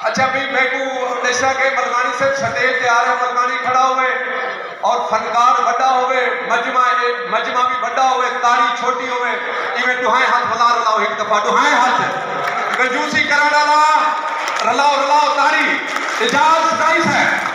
اچھا بھئی میکوں ہمیشہ کہیں ملکانی صرف سٹیج تے آ رہے ملکانی کھڑا ہووے اور فنکار وڈا ہووے مجمع اے مجمع وی وڈا ہووے تاڑی چھوٹی ہووے ایویں ڈوہائیں ہتھ ولا رلاؤ ہک دفعہ ڈوہائیں ہتھ کنجوسی کرن آلا رلاؤ رلاؤ تاڑی اعجاز سدائی صاحب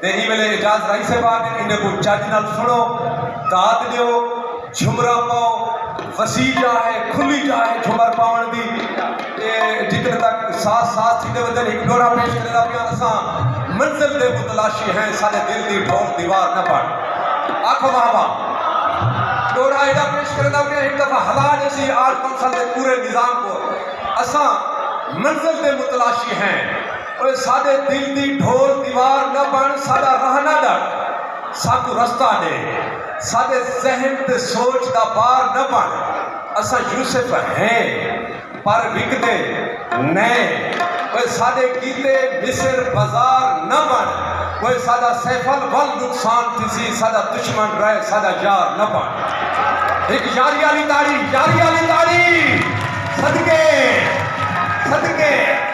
تے ایں ویلے اعجاز رائی صاحب آ گن انہیں کوں چج نال سنڑو داد ڈیو جھمرا پاؤ وسیع جا ہے کھلی جا ہے جھمر پاون دی تے جتنے تک ساز ساز تھیندے ویندن ہک ڈورا پیش کرے دا پیاں اساں منزل دے متلاشی ہیں ساڈے دل دی ڈھول دیوار نہ بن آکھو واہ واہ ڈورا ایڈا پیش کرے دا پیاں ہک دفعہ ہلا جیسی آرٹ کونسل دے پورے نظام کو اساں منزل دے متلاشی ہیں اوئے ساݙے دل دی ڈھول دیوار نہ بݨ ساݙا راہ نہ ݙٹ ساکوں رستہ ݙے ساݙے ذہن تے سوچ دا بار نہ بݨ اساں یوسف ہیں پر وکدے نئیں اوئے ساݙے کیتے مصر بازار نہ بݨ اوئے ساݙا سیف الول نقصان تھیسی ساݙا دشمن رہ ساݙا یار نہ بݨ ہک یاری آلی تاڑی یاری آلی تاڑی صدقے صدقے